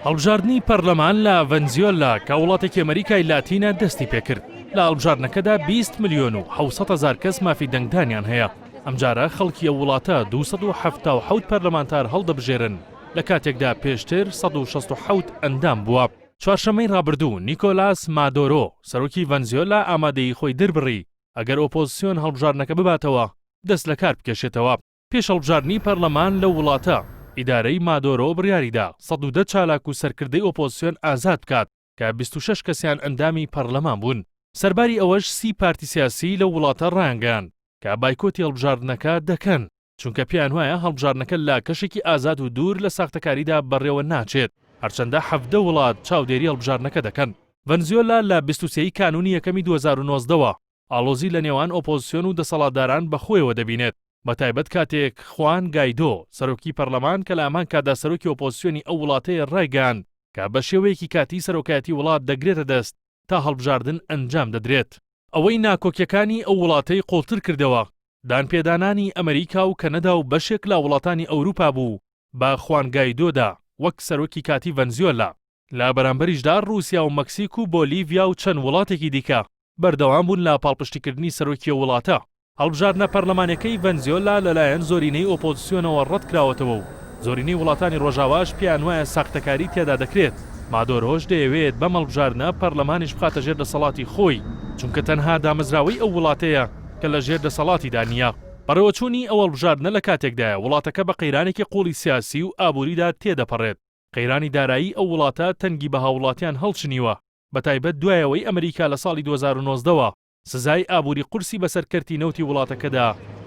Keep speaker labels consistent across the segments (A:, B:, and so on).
A: هەڵبژاردنی پەرلەمان لە ڤەنزیۆلا کە وڵاتێکی ئەمەریکای لاتینە دەستی پێکرد لە هەڵبژاردنەکەدا 20 ملیۆن و 600 هزار کەس مافی دەنگدانیان هەیە ئەمجارە خەڵکی ئەو وڵاتە 277 پەرلەمانتار هەڵدەبژێرن لە کاتێکدا پێشتر 1667 ئەندام بووە چوارشەمەی ڕابردوو نیکۆلاس مادۆرۆ سەرۆکی ڤەنزیۆلا ئامادەی خۆی دربڕی ئەگەر ئۆپۆزسیۆن هەڵبژاردنەکە بباتەوە دەست لەکار بکێشێتەوە پێش هەڵبژاردنی پەرلەمان لەو وڵاتە، ئیدارەی مادۆرۆ بڕیاری دا سەد و دە چالاک و سەرکردەی ئۆپۆزسیۆن ئازاد بکات کە بیست و شەش کەسیان ئەندامی پەرلەمان بوون. سەرباری ئەوەش سی پارتی سیاسی لەو وڵاتە ڕایانگەیاند کە بایکۆتی هەڵبژاردنەکە دەکەن، چونکە پێیان وایە هەڵبژاردنەکە لە کەشێکی ئازاد و دوور لە ساختەکاریدا بەڕێوە ناچێت، هەرچەندە حەڤدە وڵات چاودێری هەڵبژاردنەکە دەکەن. ڤەنزوێلا لە بیست و سێ ی کانوونی یەکەمی دوو هەزار و نۆزدە وە ئاڵۆزی لە نێوان ئۆپۆزسیۆن و دەسەڵاتداران بە خۆیەوە دەبینێت، بەتایبەت کاتێک خوان گایدۆ، سەرۆکی پەرلەمان کە لە هەمان کاتدا سەرۆکی ئۆپۆزسیۆنی ئەو وڵاتەیە رایگەیاند کە بە شێوەیەکی کاتیی سەرۆکایەتی وڵات دەگرێتە دەست تا هەڵبژاردن ئەنجام دەدرێت. ئەوەی ناکۆکیەکانی ئەو وڵاتەی قوڵتر کردەوە، دانپێدانانی ئەمریکا و کەنەدا و بەشێک لە وڵاتانی ئەوروپا بوو بە خوان گایدۆدا وەک سەرۆکی کاتی ڤەنزیۆلا. لە بەرامبەریشدا رووسیا و مەکسیک و بۆلیڤیا و چەند وڵاتێکی دیکە بەردەوام بوون لە پاڵپشتیکردنی سەرۆکی ئەو وڵاتە. هەڵبژاردنە پەرلەمانیەکەی ڤەنزیۆلا لەلایەن زۆرینەی ئۆپۆزسیۆنەوە رەتکراوەتەوە و زۆرینەی وڵاتانی رۆژاواش پێیانوایە ساختەکاری تێدا دەکرێت، مادۆرۆش دەیەوێت بەم هەڵبژاردنە پەرلەمانیش بخاتە ژێر دەسەڵاتی خۆی، چونکە تەنها دامەزراوەی ئەو وڵاتەیە کە لە ژێر دەسەڵاتیدا نییە. بەڕێوەچوونی ئەو هەڵبژاردنە لە کاتێکدایە وڵاتەکە بە قەیرانێکی قووڵی سیاسی و ئابووریدا تێدەپەڕێت، قەیرانی دارایی ئەو وڵاتە تەنگی بە هاووڵاتیان هەڵچنیوە، بەتایبەت دوای ئەوەی ئەمریکا لە ساڵی دوو هەزار و نۆزدە وە سزای ئابووری قورسی بەسەر کەرتی نەوتی وڵاتەکەدا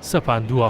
A: سەپاندووە.